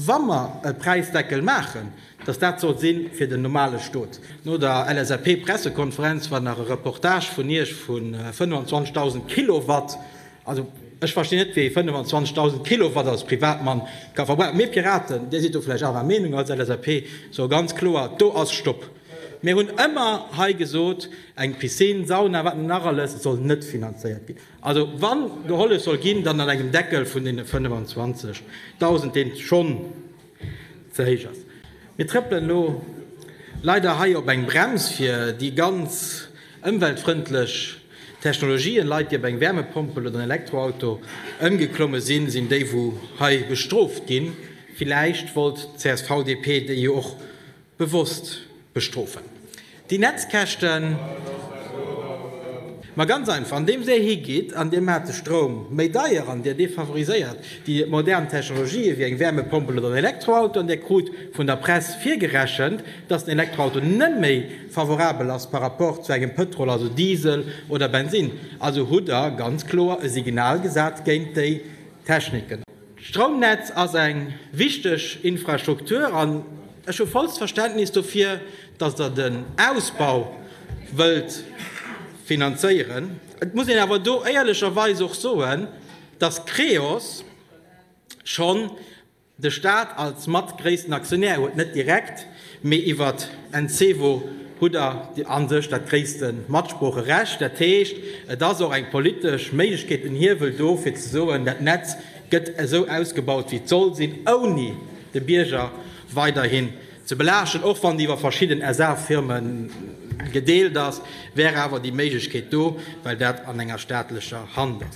Wa mer e Präisdeckel maachen, Dass dat sollt si fir den normale Stot. No der LSAP-Pressekonferenz war nach e Reportage vun Iech vu 25.000 Kilowatt. Also, ech verstinn net, wéi ee 25.000 Kilowatt als Privatmann ka verbrauchen. Mir Piraten, Dir sidd do vläicht anerer Meenung als LSAP, soe ganz kloer, Do ass Stopp! Mir hunn ëmmer hei gesot, eng Piscine, Sauna, wat net nach alles, soll net finanzéiert ginn. Also, wann gehollef soll ginn, dann an engem Deckel vun deene 25.000, deen schonn ze héich ass. Mir trëppelen elo leider hei op eng Brems fir déi ganz ëmweltfrëndlech Technologien. Leit, déi op eng Wärmepompel oder en Elektroauto ëmgeklomme sinn, sinn déi wou hei bestrooft ginn. Villäicht wollt d'CSV-DP déi jo och Bewosst bestrofen déi Netzkäschten. Ma ganz einfach, andeems Dir higeet an Dir maacht de Stroum méi deier an Dir defavoriséiert déi modern Technologië wéi eng Wärmepompel oder en Elektroauto, an Dir krut vun der Press virgerechent, dass den Elektroauto net méi favorabel ass par rapport zu engem Pëtrol, also Diesel oder Bensinn, also hutt Der ganz kloer e Signal gesat géint déi Techniken. D'Stroumnetz ass eng wichteg Infrastruktur an ech hu vollst Verständnis dofir, datt Der den Ausbau wëllt finanzéieren. Et muss een awer do éierlecherweis och soen, datt Creos schonn de Staat als mat gréissten Aktionär huet, net direkt, Mee iwwert Encevo hutt der a sech dat gréisste Matsproocherecht. Dat heescht, et ass och eng politesch Méiglechkeet, en Hiewel do, fir ze soen, dat Netz gëtt esou ausgebaut, wéi et soll sinn, ouni de Bierger weiderhin ze belaaschten. Och wann déi iwwer verschidden SA-Firme gedeelt ass, wär awer déi Méiglechkeet do, well dat an enger staatlecher Hand ass.